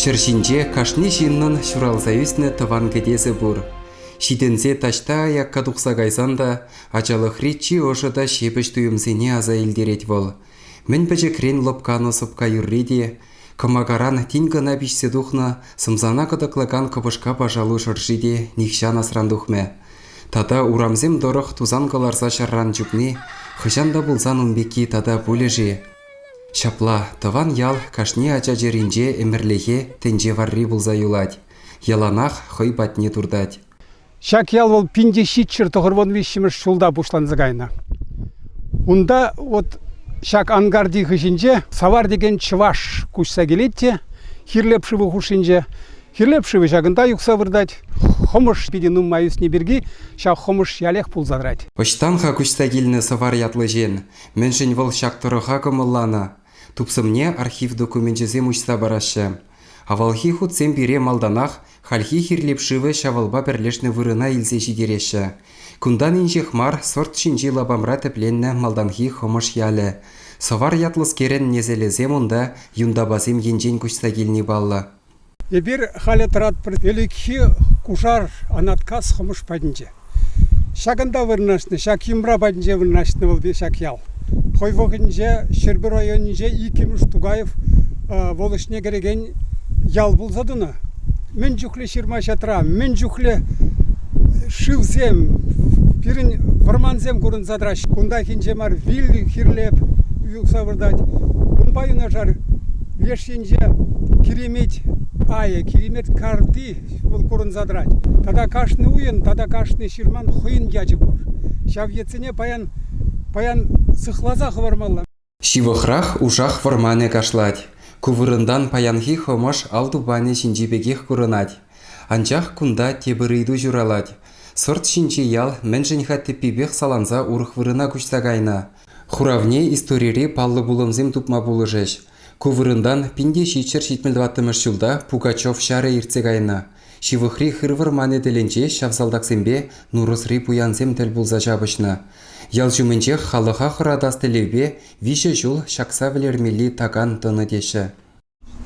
Ҫӗр ҫинче кашни ҫыннӑн ҫуралса ӳснӗ тӑван кӗтесӗ пур. Ҫитӗнсе таҫта аякка тухса кайсан та ачалӑхри чи ӑшӑ та ҫепӗҫ туйӑмсене аса илтерет вӑл. Мӗн пӗчӗкрен лӑпканӑ сӑпка юрри те, кӑмакаран тин кӑна пиҫсе тухнӑ сӑмсана кӑтӑклакан кӑпӑшка пашалу шӑрши те нихҫан асран тухмӗ. Тата урамсем тӑрӑх тусан кӑларса ҫарран чупни хӑҫан та пулсан ун пекки тата пулӗ-ши? Ҫапла, тӑван ял кашни ача чӗринче ӗмӗрлӗхе тӗнче варри пулса юлать, яланах хӑй патне туртать. Ҫак ял вӑл пин ҫиччӗр тӑхӑрвун виҫҫӗмӗш ҫулта пуҫланса кайнӑ. Унта вот ҫак ангарти хыҫӗнче Савар текен чӑваш куҫса килет те Хирлеп шывӗ хушшинче. Хирлеп шывӗ ҫакӑнта юхса выртать. Хӑмӑш питӗ нумай ӳсни пирки ҫак хӑмӑш ялех пулса тӑрать. Ӑҫтан-ха куҫса килнӗ Сӑвар ятлӑ ҫын? Мӗншӗн вӑл ҫак тӑрӑха кӑмӑлланӑ? Тупсӑмне архив докуменчӗсем уҫса параҫҫӗ. Авалхи хутсем пире малтанах хальхи Хирлеп шывӗ ҫавалпа пӗрлешнӗ вырӑна илсе ҫитереҫҫӗ. Кунтан инҫех мар сорт ҫинчи лапамра тӗпленнӗ малтанхи Хӑмӑш ялӗ. Сӑвар ятлӑскерӗн несӗлӗсем унта юнтапасем енчен куҫса килни паллӑ. Эпир халӗ тӑратпӑр ӗлӗкхи кушар Анаткас Хӑмӑш патӗнче. Ҫакӑнта вырнаҫнӑ, ҫак йӑмра патӗнче вырнаҫнӑ вӑл ҫак ял. Хӑй вӑхӑтӗнче Ҫӗрпӳ районӗнче иккӗмӗш Тукаев вӑл ӗҫне кӗрекен ял пулса тӑнӑ. Мӗн чухлӗ ҫырма-ҫатра, мӗн чухлӗ шывсем, пирӗн вӑрмансем курӑнса тӑраҫҫӗ. Кунтахинче мар вилли хирлеп юхса выртать. Унпа юнашар леш Тӗнче киремет айӗ, киремет карти вӑл курӑнса тӑрать. Тата кашни уйӑн, тата кашни ҫырман хӑйӗн ячӗ пур. Ҫав ятсене паян, паян сыхласа хӑвармалла. Ҫывӑхрах Ушах вӑрманӗ кашлать. Ку вырӑнтан паянхи Хӑмӑш ал тупанӗ ҫинчи пекех курӑнать. Анчах кунта тепӗр ыйту ҫуралать, сӑрт ҫинчи ял мӗншӗн-ха тӗппипех саланса урӑх вырӑна куҫса кайнӑ? Хуравне историри паллӑ пулӑмсем тупма пулӑшӗҫ. Ку вырӑнтан пин те ҫиччӗр-ҫитмӗл тӑваттӑмӗш ҫулта Пугачев ҫарӗ иртсе кайнӑ. Ҫывӑхри хыр вӑрманӗ тӗлӗнче ҫав салтаксемпе Нурӑсри пуянсем тӗл пулса ҫапӑҫнӑ. Ял ҫумӗнчех халӑха хӑратас тӗллевпе виҫӗ ҫул ҫакса вӗлермелли такан тӑнӑ теҫҫӗ.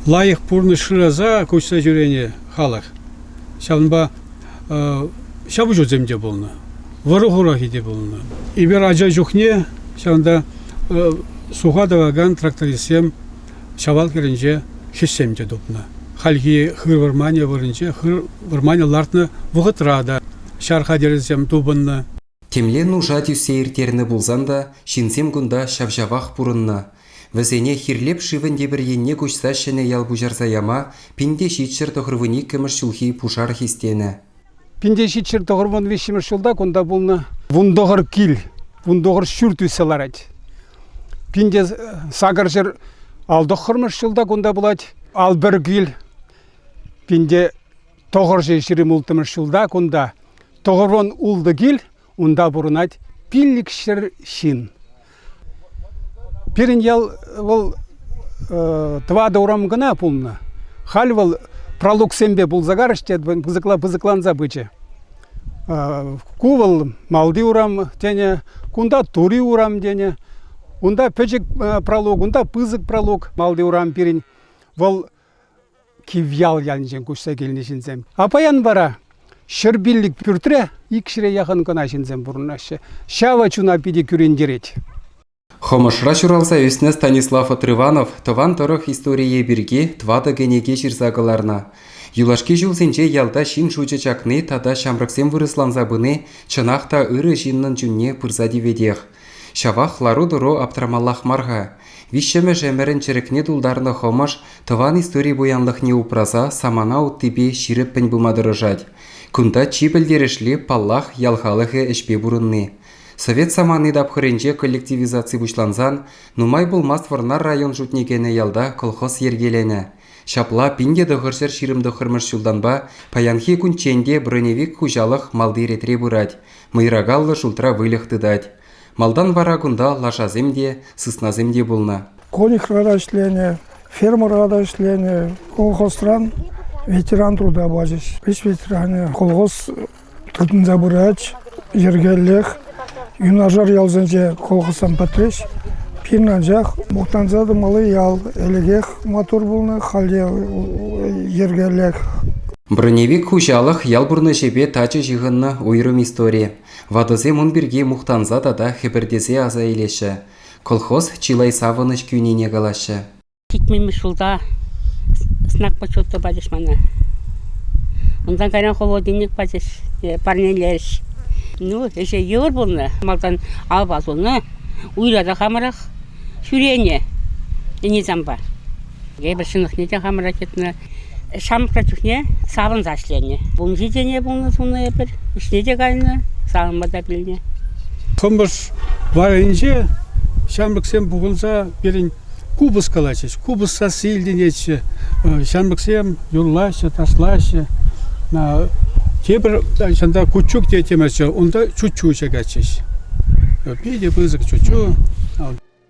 лайӑх пурнӑҫ шыраса куҫса ҫӳренӗ халӑх. Ҫавӑнпа ҫапӑҫусем те пулнӑ, вӑрӑ-хурахи те пулнӑ. Эпир ача чухне ҫавӑнта суха тӑвакан трактористсем Ҫавал хӗрӗнче хӗҫсем те тупнӑ. Хальхи хыр вӑрманӗ вырӑнче хыр вӑрманӗ лартнӑ вӑхӑтра та ҫар хатӗрӗсем тупӑннӑ. Темле нуша тӳссе ирттернӗ пулсан та ҫынсем кунта ҫав-ҫавах пурӑннӑ. Вӗсене Хирлеп шывӗн тепӗр енне куҫса ҫӗнӗ ял пуҫарса яма Пинте ҫичҫӗр тӑхӑрвун иккӗмӗш ҫулхи пушар хистенӗ. Пинте ҫичҫӗр тӑхӑрвун виҫҫӗмӗш ҫулта кунта пулнӑ вун тӑхӑр кил, вун тӑхӑр ҫурт ӳссе ларать. Пинте сакӑр ҫӗр ал тӑххӑрмӗш ҫулта кунта пулать. Ал пӗр кил, Пинте Тӑхӑрҫи ҫирӗм улттӑмӗш ҫулта кунта Тӑхӑрвон ултӑ кил, унта пурӑнать пиллӗкҫӗр ҫын. Пирӗн ял вӑл тӑватӑ урам кӑна пулнӑ. Халь вӑл пралуксемпе пулса карӑш те пысӑкланса пычӗ. Ку вӑл Малти урам тенӗ, кунта Тури урам тенӗ. Унта пӗчӗк пралук, унта пысӑк пралук. Малти урам пирӗн вӑл Кивьял ялӗнчен куҫса килнӗ ҫынсем. А паян вара ҫӗрпиллӗк пӳртре икҫӗре яхӑн кӑна ҫынсем пурӑнаҫҫӗ. Ҫавӑ чуна питӗ кӳрентерет. Хӑмӑшра ҫуралса ӳснӗ Станислав Отрыванов тӑван тӑрӑх историйӗ пирки тӑватӑ кӗнеке ҫырса кӑларнӑ. Юлашки ҫулсенче ялта ҫын шучӗ чакни тата ҫамрӑксем вырӑсланса пыни чӑнах та ырӑ ҫыннӑн чунне пырса тиветех. Ҫавах лару-тӑру аптрамаллах мар-ха. Виҫҫӗмӗш ӗмӗрӗн чӗрӗкне тултарнӑ хӑмӑш тӑван истори пуянлӑхне упраса самана уттипе ҫирӗппӗн пыма тӑрӑшать. Кунта чи пӗлтерӗшли, паллах, ял халӑхӗ ӗҫпе пурӑнни. Совет самани тапхӑрӗнче коллективизаци пуҫлансан нумай пулмасть Вӑрнар район шутне кӗнӗ ялта колхоз йӗркеленӗ. Ҫапла пин те тӑхӑрҫӗр ҫирӗм тӑххӑрмӗш ҫултанпа паянхи кунччен те броневик хуҫалӑх малти ретре пырать, мӑйракаллӑ шултра выльӑх тытать. Малтан вара кунта лашасем те, сыснасем те пулнӑ. Колихра та ӗҫленӗ, фермӑра та ӗҫленӗ. Колхозран ветеран труда пачӗҫ. Ӗҫ ветеранӗ, колхоз Тытӑнса пырать. Йӗркеллех юнашар ялсенче колхозсем пӗтрӗҫ. Пирӗн анчах мухтанса тӑмалли ял. Ӗлӗкех маттур пулнӑ, халӗ йӗркеллех. Броневик хуҫалӑх ял пурнӑҫӗпе тачӑ ҫыхӑннӑ уйрӑм истори. Ватӑсем ун пирки мухтанса тата хӗпӗртесе аса илеҫҫӗ. Колхоз чылай савӑнӑҫ кӳнине калаҫҫӗ. Ҫитмӗмӗш ҫулта знак почета пачӗҫ мана. Унтан кайран холодильник пачӗҫ, парнелерӗҫ. Ну, ӗҫе йывӑр пулнӑ. Малтан апат хунӑ, уйра хамӑрах ҫӳренӗ ӗни-сампа. Эпир ҫӑнӑхне те хамӑрах йӑтнӑ. Ҫамрӑкра чухне савӑнса ӗҫленӗ. Вунҫи тене пулнӑ суннӑ эпир, вӗҫне те кайнӑ, савӑнма та пӳлнӗ. Кӑмӑш варринче ҫамрӑксем пухӑнса пирӗн купӑс калаҫӗҫ. Купӑс сасси илтӗнетчӗ. Ҫамрӑксем юрлаҫҫӗ, ташлаҫҫӗ. Тепӗр ҫынта кучук те темӗрччӗ, унта чуччу чакатчӗҫ. Питӗ пысӑк чуччу.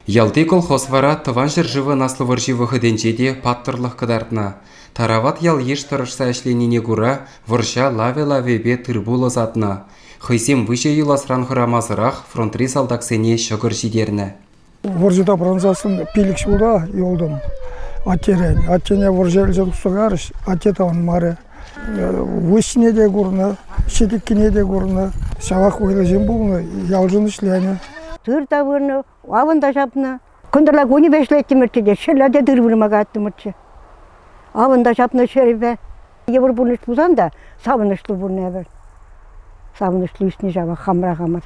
Ялти колхоз вара Тӑван ҫӗршывӑн Аслӑ вӑрҫи вӑхӑтӗнче те паттӑрлӑх кӑтартнӑ. Тарават ял-йыш тӑрӑшса ӗҫленине кура вӑрҫа лавӗ-лавӗпе тыр-пул ӑсатнӑ. Хӑйсем выҫӑ юласран хӑрамасӑрах фронтри салтаксене ҫӑкӑр ҫитернӗ. Вӑрҫӑта пӑрӑнсассӑн пилӗк ҫулта юлтӑм аттерен. Аттене вӑрҫӑ ӗлчен тусса карӗҫ, атте таврӑнмарӗ. Выҫҫине те курнӑ, ҫӗтӗккине те курнӑ. Ҫавах вӑйлӑ ҫын пулнӑ, ялшӑн ӗҫленӗ. Тыр та вырнӑ, авӑн та ҫапнӑ. Кӑнтӑрла кунӗпе ӗҫлеттӗмӗрччӗ те ҫӗр ятӗ тыр вырма кайрттӑмӑрччӗ. Авӑн та ҫапнӑ ҫӗрӗпе. Йывӑр пурнӑҫ пулсан та савӑнӑҫлӑ пурӑн эпӗр. Савӑнӑҫлӑ ӳснӗ ҫавах хамра хамӑр.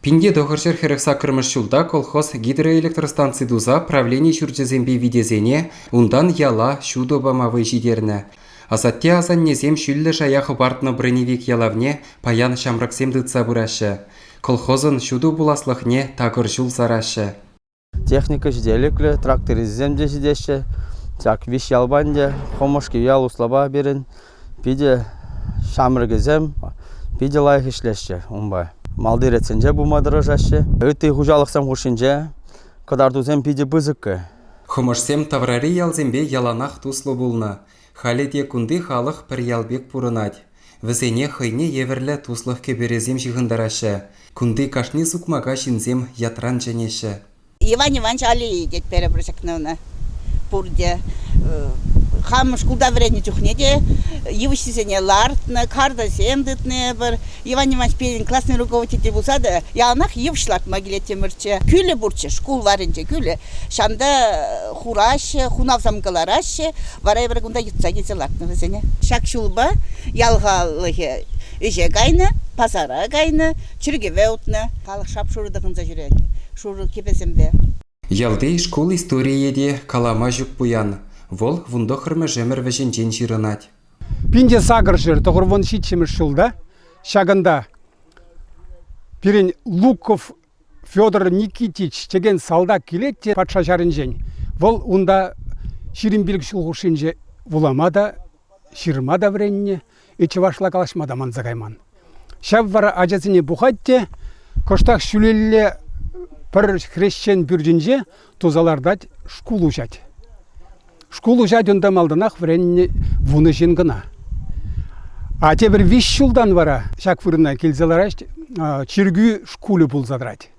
Пинте тӑхӑрҫӗр хӗрӗх саккӑрмӗш ҫулта колхоз гидроэлектростанци туса правлени ҫурчӗсемпе витесене, унтан яла ҫутӑ пама вӑй ҫитернӗ. Асатте-асаннесем ҫӳллӗ шая хӑпартнӑ броневик ялавне паян ҫамрӑксем тытса пыраҫҫӗ. Колхозӑн ҫутӑ пуласлӑхне такӑр ҫул сараҫҫӗ. Техника ҫителӗклӗ, трактористсем те ҫитеҫҫӗ. Ҫак виҫ ялпа ӗнтӗ Хӑмӑшки ял услапа пирӗн питӗ ҫамрӑкӗсем питӗ лайӑх ӗҫлеҫҫӗ унпа. Малти ретсенче пулма тӑрӑшаҫҫӗ. Ытти хуҫалӑхсем хушшинче кӑтартусем питӗ пысӑккӑ. Хӑмӑшсем таврари ялсемпе яланах туслӑ пулнӑ. Халӗ те кунти халӑх пӗр ял пек пурӑнать. Вӗсене хӑйне евӗрлӗ туслӑх кӗперӗсем ҫыхӑнтараҫҫӗ. Кунти кашни сукмака ҫынсем ятран чӗнеҫҫӗ. Иван Иванович Алии тет перебор ҫакна ӑна. Пурте хам шкулта вӗреннӗ чухне те йывӑҫҫисене лартнӑ, картӑсем тытнӑ эпӗр. Иван Иванович пирӗн классный руководитель пулса та яланах йывӑҫ лартма килеттӗмӗрччӗ. Кӳлӗ пурччӗ, шкул варринче кӳлӗ. Ҫанта хураҫҫӗ, хунавсам кӑлараҫҫӗ, вара эпир кунта йӑтса килсе лартнӑ вӗсене. Ҫак ҫулпа ял халӑхӗ ӗҫе кайнӑ, пасара кайнӑ, чиркӗве утнӑ, халӑх шап-шурӑ тӑхӑнса ҫӳрет, шурӑ кӗпесемпе. Ялти шкул историйӗ те калама ҫук пуян. Вӑл вунтӑххӑрмӗш ӗмӗр вӗҫӗнчен ҫырӑнать. Пин те сакӑр ҫӗр, тӑхӑр вун ҫиччӗмӗш ҫулта ҫакӑнта пирӗн Луковъ Федор Никитич текен салтак килет те патша ҫарӗнчен. Вӑл унта ҫирӗм пилӗк ҫул хушшинче вулама та, ҫырма та вӗреннӗ, чӑвашла калаҫма та манса кайман. Ҫав вара ачасене пухать те кӑштах ҫӳлелле пӗр хресчен пӳртӗнче туса лартать, шкул уҫать. Шкул уҫать унта малтанах вӗреннӗ вунӑ ҫын кӑна. А тепӗр виҫ ҫултан вара ҫак вырӑна килсе лараҫ чиркӳ шкулӗ пулса тӑрать.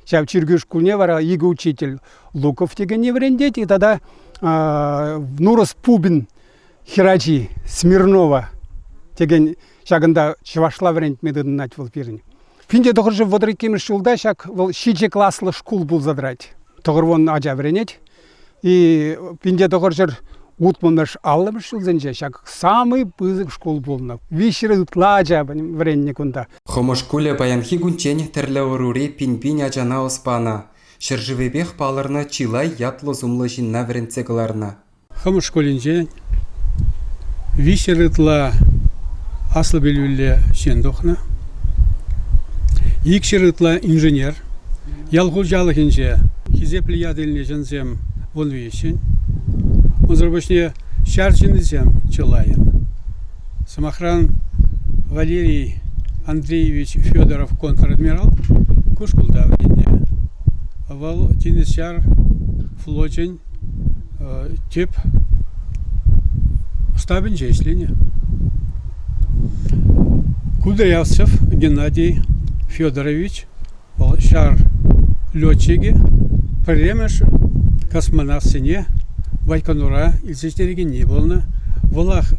Ҫав чиркӳ шкулне вара икӗ учитель Луков текенне вӗрентет, и тата Нурас Пубин Хӗрачи Смирнова текен ҫакӑнта чӑвашла вӗрентме тытӑнать вӑл пирӗн. Пинте тӑхӑрҫӑ вӑтӑр иккӗмӗш ҫулта ҫак вӑл ҫичӗ класлӑ шкул пулса тӑрать. Тӑхӑрвун ача вӗренет. И пинте тӑхӑрҫӑр утмӑлмӗш аллӑмӗш ҫулсенче ҫак самый пысӑк шкул пулнӑ. Виҫҫӗре ытла ача вӗреннӗ кунта. Хӑмӑш шкулӗ паянхи кунччен тӗрлӗ ӑрури пин-пин ачана ӑс панӑ, ҫӗршывӗпех палӑрнӑ чылай ятлӑ-сумлӑ ҫынна вӗрентсе кӑларнӑ. Хӑмӑш шкулӗнчен виҫӗ ытла аслӑ пӗлӳллӗ ҫын тухнӑ. Икҫӗр ытла инженер. Ял хуҫалӑхӗнче хисеплӗ ят илнӗ ҫынсем вун виҫҫӗн. Унсӑр пуҫне ҫар ҫыннисем чылайӑн. Сӑмахран, Валерий Андреевич Федоров контр-адмирал ку шкулта вӗреннӗ. Вӑл тинӗс-ҫар флочӗн тип ӑстапӗнче ӗҫленӗ. Кудрявцев Геннадий Федорович вӑл ҫар летчикӗ пӗрремӗш космонавтсене Байконура илсе ҫитерекенни пулнӑ. Вӑлах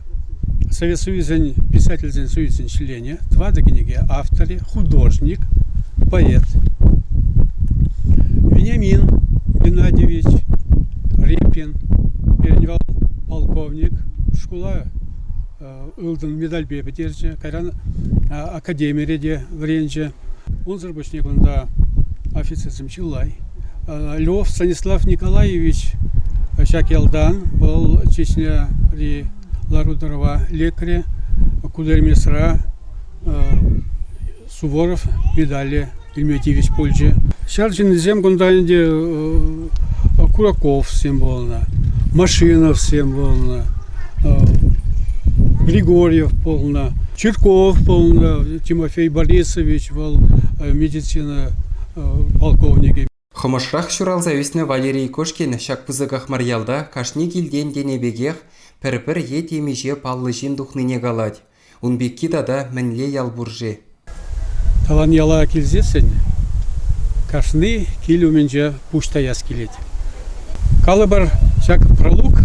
Совет Союзӗн Писательсен Союзӗн членӗ. тӑватӑ кӗнеке авторӗ, художник, поэт. Вениамин Геннадьевич Репин, перинвал полковник, шкула ылтӑн медальпе пӗтерчӗ, кайран академире те вӗренчӗ. Унсӑр пуҫне кунта офицерсем чылай. Львов Станислав Николаевич ҫак ялтан вӑл Чечняри лару-тӑрӑва лекрӗ. Кудермесра Суворов медале илме тивӗҫ пулчӗ. Ҫар ҫыннисем кунта ӗнтӗ Кураковсем пулнӑ, Машиновсем пулнӑ, Григорьев пулнӑ, Чирков пулнӑ, Тимофей Борисович вӑл медицина полковникӗ. Хӑмӑшрах ҫуралса ӳснӗ Валерий Кошкин ҫак пысӑках мар ялта кашни килтен тенӗ пекех пӗр-пӗр е темиҫе паллӑ ҫын тухнине калать. Ун пекки тата мӗнле ял пур-ши? Тӑван яла килсессӗн кашни кил умӗнче пуҫ таяс килет. Калӑпӑр, ҫак пролог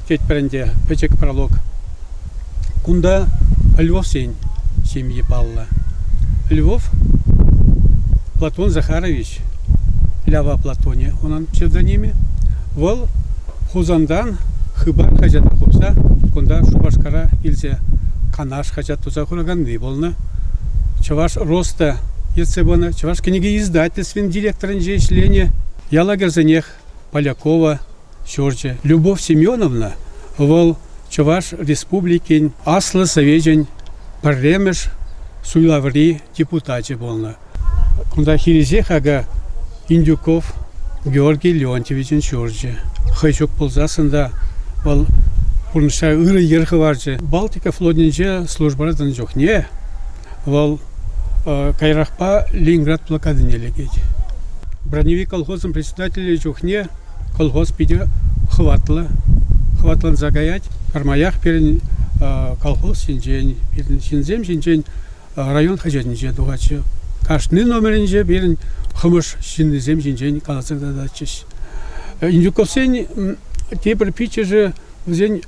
тетпӗр ӗнтӗ, пӗчӗк пролог. Кунта Львовсен ҫемйи паллӑ. Львов Платон Захарович, Лява Платонӗ унӑн псевдонимӗ. Вӑл Хусантан Хыпар хаҫата хупса кунта Шупашкара илсе Канаш хаҫат туса хураканни пулнӑ. Чӑваш РОСТа ертсе пынӑ, Чӑваш кӗнеке издательствин директорӗнче ӗҫленӗ, ялагерсенех Полякова ҫурчӗ. Любовь Семеновна вӑл Чӑваш Республикин Аслӑ Совечӗн пӗрремӗш суйлаври депутачӗ пулнӑ. Кунта хирӗҫех акӑ Индюков Георгий Леонтьевичӑн ҫурчӗ. Хӑй ҫук пулсассӑн та вӑл пурнӑҫра ырӑ йӗр хӑварчӗ. Балтика флотӗнче службӑра тӑнӑ чухне Вӑл каярахпа Ленинград блокадине лекет. Броневик колхозӑн председателӗ чухне колхоз питӗ хӑватлӑ, хӑватланса каять. Пӗрмаях пирӗн колхоз ҫинчен, пирӗн ҫынсем ҫинчен район хаҫатӗнче тухатчӗ. Кашни номерӗнче пирӗн хӑмӑш ҫыннисем ҫинчен каласа тататчӗҫ. Индюковсен тепӗр пиччӗшӗ, вӗсен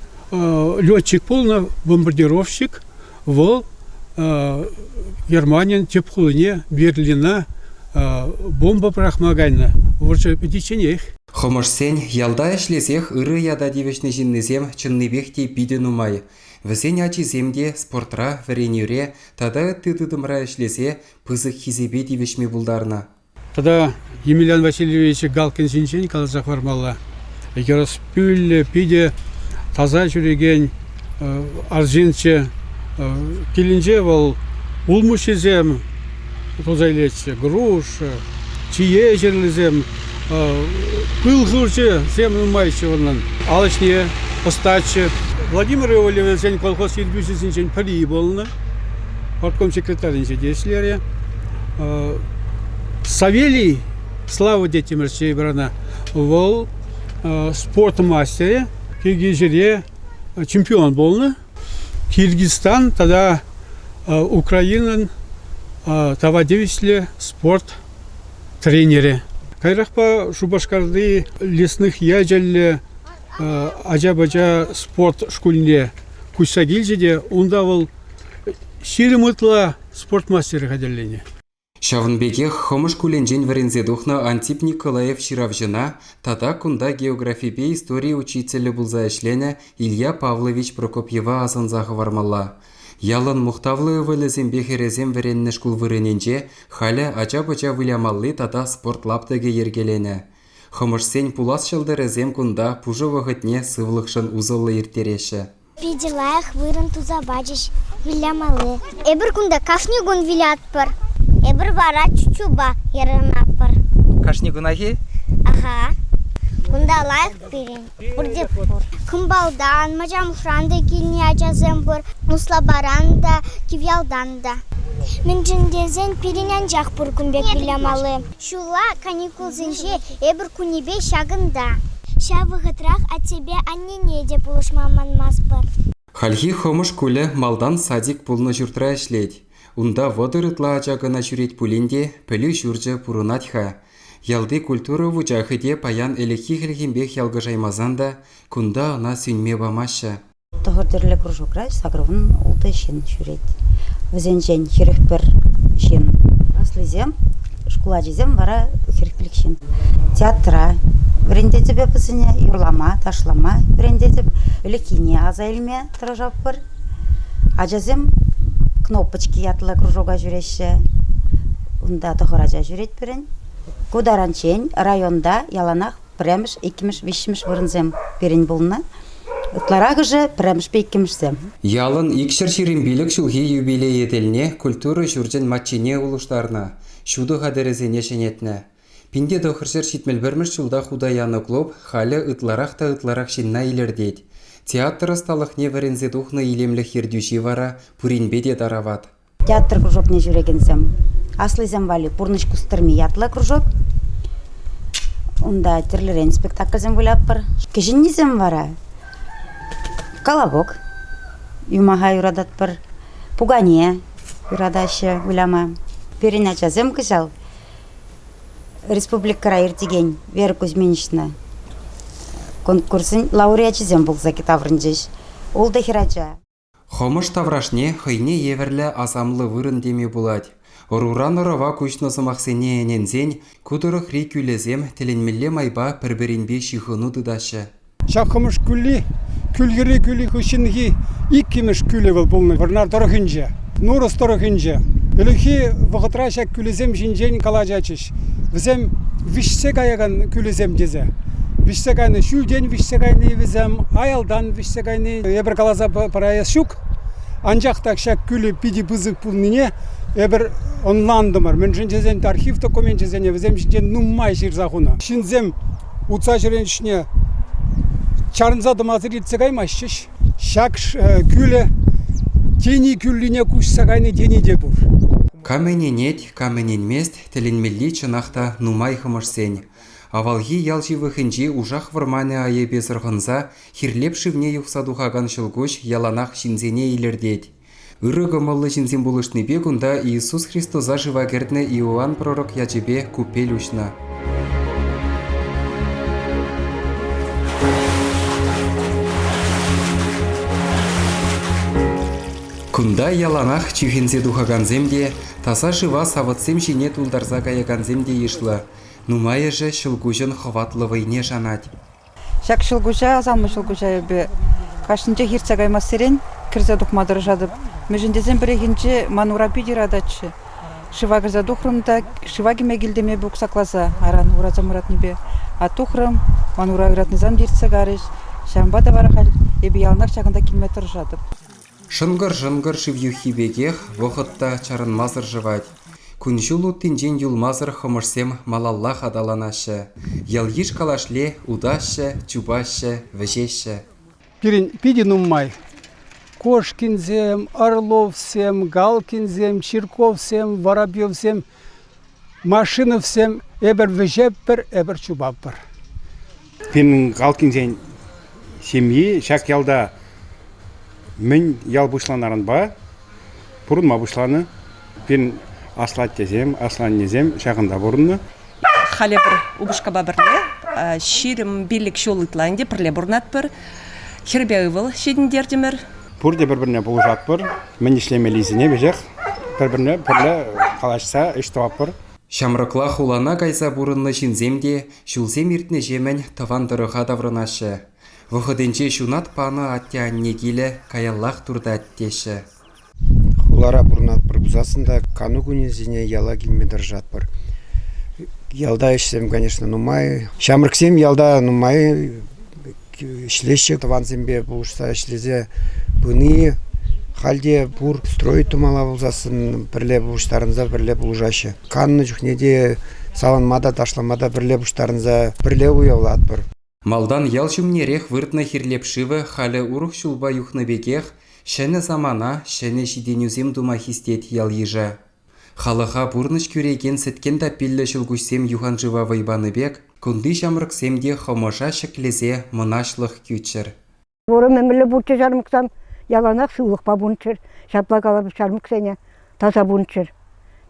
летчик пулнӑ, бомбардировщик. Вӑл Германин тӗп хулине Берлина бомба пӑрахма кайнӑ. Вӑрҫӑ пӗтичченех. Хӑмӑшсен ялта ӗҫлесех ырӑ ята тивӗҫнӗ ҫыннисем чӑннипех те питӗ нумай. Вӗсен ачисем те спортра, вӗренӳре тата ытти тытӑмра ӗҫлесе пысӑк хисепе тивӗҫме пултарнӑ. Тата Емельян Васильевич Галкин ҫинчен каласа хӑвармалла. Йӑрӑспӳллӗ, питӗ таса ҫӳрекен арҫынччӗ. Килӗнче вӑл улмуҫҫисем туса илетчӗ, груш, чие ҫырлисем, пыл хурчӗсем нумайччӗ унӑн, ал ӗҫне ӑстаччӗ. Владимир Иосифовичӑн колхоз ертӳҫисенчен пӗри пулнӑ, партком секретарӗнче те ӗҫлерӗ. Савелий, Слава детям России брана, вӑл спорт мастерӗ, киргизире чемпион пулнӑ. Киргизстан тата Украинӑн тава тивӗҫлӗ спорт тренерӗ. Каярахпа Шупашкарти лесных ячӗллӗ ача-пӑча спорт шкулне куҫса килчӗ те унта вӑл ҫирӗм ытла спорт мастерӗ хатӗрленӗ. Ҫавӑн пекех Хӑмӑш шкулӗнчен вӗренсе тухнӑ Антип Николаев ҫыравҫӑна тата кунта географипе истори учителӗ пулса ӗҫленӗ Илья Павлович Прокопьева асӑнса хӑвармалла. Ялӑн мухтавлӑ ывӑлӗсемпе хӗрӗсем вӗреннӗ шкул вырӑнӗнче халӗ ача-пӑча вылямалли тата спорт лаптӑкӗ йӗркеленӗ. Хӑмӑшсен пулас ҫӑлтӑрӗсем кунта пушӑ вӑхӑтне сывлӑхшӑн усӑллӑ ирттереҫҫӗ. Питӗ лайӑх вырӑн туса пачӗҫ вылямалли. Эпир кунта кашни кун вылятпӑр. Эпир вара чучупа ярӑнатпӑр. Кашни кунахи? Аха. Кунта лайӑх пирӗн. Пурте пур. Кӑмпалтан, Мачамхран та килнӗ ачасем пур. Услапаран та, Кивьялтан та. Мӗншӗн тесен пирӗн анчах пур кун пек вылямалли. Ҫулла каникулсенче эпир кунӗпе ҫакӑнта. Ҫав вӑхӑтрах аттепе аннене те пулӑшма манмастпӑр. Хальхи Хӑмӑш шкулӗ малтан садик пулнӑ ҫуртра ӗҫлет. Унта вӑтӑр ытла ача кӑна ҫӳрет пулин те пӗлӳ ҫурчӗ пурӑнать-ха. Ялти культура вучахӗ те паян ӗлӗкхи хӗлхемпех ялкӑшаймасан та кунта ӑна сӳнме памаҫҫӗ. Тӑхӑр тӗрлӗ кружокра сакӑрвун ултӑ ҫын ҫӳрет. Вӗсенчен хӗрӗх пӗр ҫын. Аслисем, шкул ачисем вара хӗрӗхпех ҫын. Театра вӗрентетӗпе вӗсене юрлама, ташлама вӗрентетӗп. Ӗлӗкхине аса илме тӑрӑшатпӑр. Ачасем кнопочки ятлӑ кружока ҫӳреҫҫӗ. Унта тӑхӑр ача ҫӳрет пирӗн. Ку таранччен районта яланах пӗрремӗш, иккӗмӗш, виҫҫӗмӗш вырӑнсем пирӗн пулнӑ. Ытларахӑшӗ пӗрремӗшпе иккӗмӗшсем. Ялӑн икҫӗр ҫирӗм пилӗк ҫулхи юбилейӗ тӗлне культура ҫурчӗн маччине улӑштарнӑ, ҫутӑ хатӗрӗсене ҫӗнетнӗ. Пин те тӑхӑрҫӗр ҫитмӗл-пӗрмӗш ҫулта хута янӑ клуб халӗ ытларах та ытларах ҫынна илӗртет. Театр ӑсталӑхне вӗренсе тухнӑ илемлӗх ертӳҫи вара пуринпе те тарават. Театр кружокне ҫӳрекенсем, аслисем валли пурнӑҫ кустӑрми ятлӑ кружок. Унта тӗрлӗрен спектакльсем вылятпӑр. Кӗҫӗннисем вара колобок, юмаха юрататпӑр, пукане юратаҫҫӗ выляма. Пирӗн ачасем кӑҫал республикӑра иртекен Вера Кузьминична конкурсӗн лауреачӗсем пулса таврӑнчӗҫ. Ултӑ хӗрача. Хӑмӑш таврашне хӑйне евӗрлӗ асамлӑ вырӑн теме пулать. Ӑруран ӑрӑва куҫнӑ сӑмахсене ӗненсен ку тӑрӑхри кӳлӗсем тӗлӗнмелле майпа пӗр-пӗринпе ҫыхӑну тытаҫҫӗ. Ҫак Хӑмӑш кӳлли Кӳлхӗрри кӳлӗ хыҫҫӑнхи иккӗмӗш кӳлӗ вӑл пулнӑ Вӑрнар тӑрӑхӗнче, Нурӑс тӑрӑхӗнче. Ӗлӗкхи вӑхӑтра ҫак кӳлӗсем ҫинчен калаҫатчӗҫ. Вӗсем виҫсе каякан кӳлӗсем тесе. Виҫсе кайнӑ, ҫӳлтен виҫсе кайни вӗсем, аялтан виҫсе кайни. Эпир каласа параяс ҫук. Анчах та ҫак кӳлӗ питӗ пысӑк пулнине эпир ӑнлантӑмӑр. Мӗншӗн тесен архив докуменчӗсене вӗсем ҫинчен нумай ҫырса хунӑ. Ҫынсем утса ҫӳрен ӗҫне чарӑнса тӑмасӑр иртсе каймаҫҫӗҫ. Ҫак кӳлӗ тени кӳллине куҫса кайни тени те пур. Кам ӗненет, Кам ӗненмест, тӗлӗнмелли чӑнах та нумай хӑмӑшсен. Авалхи ял ҫывӑхӗнчи ушах вӑрманӗ айӑпе сӑрхӑнса хирлеп шывне юхса тухакан ҫӑлкуҫ яланах ҫынсене илӗртет. Ырӑ кӑмӑллӑ ҫынсем пулӑшнипе кунта Иисус Христоса шыва кӗртнӗ Иоанн пророк ячӗпе купель уҫнӑ. Кунта яланах чӳхенсе тухакансем те, Таса шыва савӑтсем ҫине тултарса каякансем те йышлӑ. Нумайӑшӗ ҫӑлкуҫӑн хӑватлӑ вӑйне шанать. Ҫак ҫӑлкуҫа, асамлӑ ҫӑлкуҫа эпӗ кашнинчех иртсе каймассерен кӗрсе тухма тӑрӑшатӑп. Мӗншӗн тесен пӗррехинче ман ура питӗ ырататчӗ. Шыва кӗрсе тухрӑм та шыва кӗме килтӗм эпӗ уксакласа. Аран ураса мӑратнипе тухрӑм. Ман ура ыратнисем те иртсе карӗҫ. Ҫавӑнпа та вара халь эпӗ яланах ҫакӑнта килме тӑрӑшатӑп. Шӑнкӑр-шӑнкӑр шыв юххи пекех вӑхӑт та чарӑнмасӑр шӑвать. Кун-ҫул уттинчен юлмасӑр хӑмӑшсем малаллах аталанаҫҫӗ. Ял-йыш калашле утаҫҫӗ, чупаҫҫӗ, вӗҫеҫҫӗ. Пирӗн питӗ нумай. Кошкинсем, Орловсем, Галкинсем, Чирковсем, Воробьевсем Машиновсем эпир вӗҫеппӗр, эпир чупатпӑр. Пирӗн Галкинсен ҫемйи ҫак ялта мӗн ял пуҫланаранпа пурӑнма пуҫланӑ. Пирӗн аслаттесем, асланнесем ҫакӑнта пурӑннӑ. Халӗ пӗр упӑшкапа пӗрле ҫирӗм пиллӗк ҫул ытла ӗнтӗ пӗрле пурӑнатпӑр. Хӗрпе ывӑл ҫитӗнтертӗмӗр. пурте пӗр-пӗрне пулӑшатпӑр. Мӗн ӗҫлемеллисене веҫех пӗр-пӗрне пӗрле калаҫса ӗҫ тӑватпӑр. Ҫамрӑкла хулана кайса пурӑннӑ ҫынсем те ҫулсем иртнӗҫемӗн тӑван тӑрӑха таврӑнаҫҫӗ. Вӑхӑтӗнче ҫунат панӑ атте-анне килӗ каяллах туртать теҫҫӗ. Хулара пурӑнатпӑр пулсассӑн та кану кунӗсене яла килме тӑрӑшатпӑр. Ялта ӗҫсем, конечно, нумай. Ҫамрӑксем ялта нумай ӗҫлеҫҫӗ тӑвансемпе пулӑшса ӗҫлесе пыни. Халь те пур стройка мала пулсассӑн пӗрле пуҫтарӑнса пӗрле пулӑшаҫҫӗ. Каннӑ чухне те саланма та, ташлама та пӗрле пуҫтарӑнса пӗрле уявлатпӑр. Малтан ял ҫумнерех выртнӑ Хирлеп шывӗ халӗ урӑх ҫулпа юхнӑ пекех, ҫӗнӗ самана, ҫӗнӗ ҫитӗнӳсем тума хистет ял-йыша. Халӑха пурнӑҫ кӳрекен сӗткен таппиллӗ ҫӑлкуҫсем юханшыва вӑй панӑ пек, кунти ҫамрӑксем те хӑмӑша ҫӗклесе мӑнаҫлӑх кӳччӗр. Вӑрӑм ӗмӗрлӗ пурччӗ ҫармӑксам, яланах сывлӑхпа пулччӑр, ҫапла калӑп ҫармӑксене, таса пулччӑр.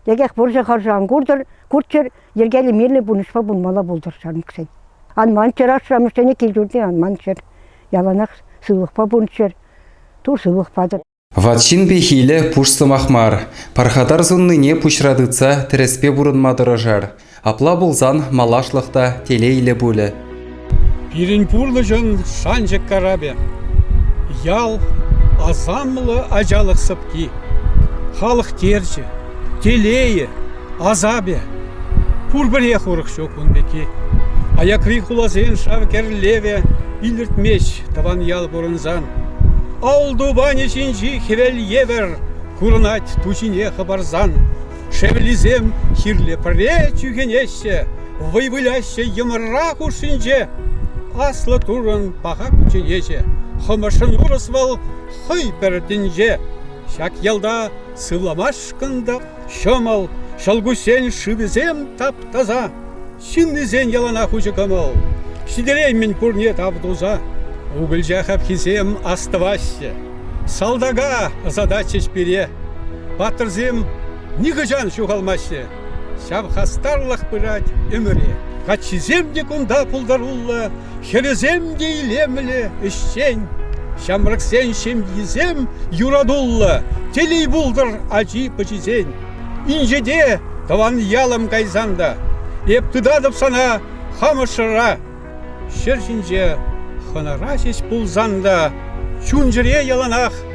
Текех пурҫӑ харши ан куртӑр, курччӑр, йӗркеллӗ мирлӗ пурнӑҫпа пулмалла пултӑр ҫармӑксен. Ан манччӑр ашшӗ-амӑшсене кил-ҫуртне ан манччӑр, яланах сывлӑхпа пулччӑр, тур сывлӑх патӑр. Ват ҫын пехилӗ пуш сӑмах мар. Пархатар суннине пуҫра тытса тӗрӗспе пурӑнма тӑрӑшар. Апла пулсан малашлӑх та телейлӗ пулӗ. Пирӗн пурнӑҫӑн шанчӑк карапӗ. Ял, асамлӑ ачалӑх сӑпки. Халӑх терчӗ, Телейӗ, асапӗ пурпӗрех урӑх ҫук ун пекки. Аякри хуласен шав кӗрлевӗ илӗртмест тӑван ял пурӑнсан. Ал тупанӗ ҫинчи хӗвел евӗр курӑнать ту ҫине хӑпарсан. Шевлисем хирлӗ пӗре чӳхенеҫҫӗ, вӑй выляҫҫӗ йӑмра хушшинче. Аслӑ турӑн паха кучченеҫӗ, хӑмӑшӑн урӑс вӑл хӑй пӗр тӗнче. Ҫак ялта Сывламашкӑн та ҫӑмӑл, ҫӑлкуҫсен шывӗсем тап-таса, ҫыннисен яланах уҫӑ кӑмӑл. Ҫитереймӗн пурне тав туса. Укӑлча хапхисем астӑваҫҫӗ. Салтака ӑсататчӗҫ пире. Паттӑрсем нихӑҫан ҫухалмаҫҫӗ. Ҫав хастарлӑх пырать ӗмӗре. Каччисем те кунта пултаруллӑ, Хӗвӗсем те илемлӗ, ӗҫчен. Ҫамрӑксен ҫемйисем юратуллӑ, телей пултӑр ачи-пӑчисен. Инҫете, тӑван ялӑм кайсан та, эп тытатӑп сана хамӑр шӑрра. Ҫӗр ҫинче хӑнара ҫеҫ пулсан та, чун-чӗре яланах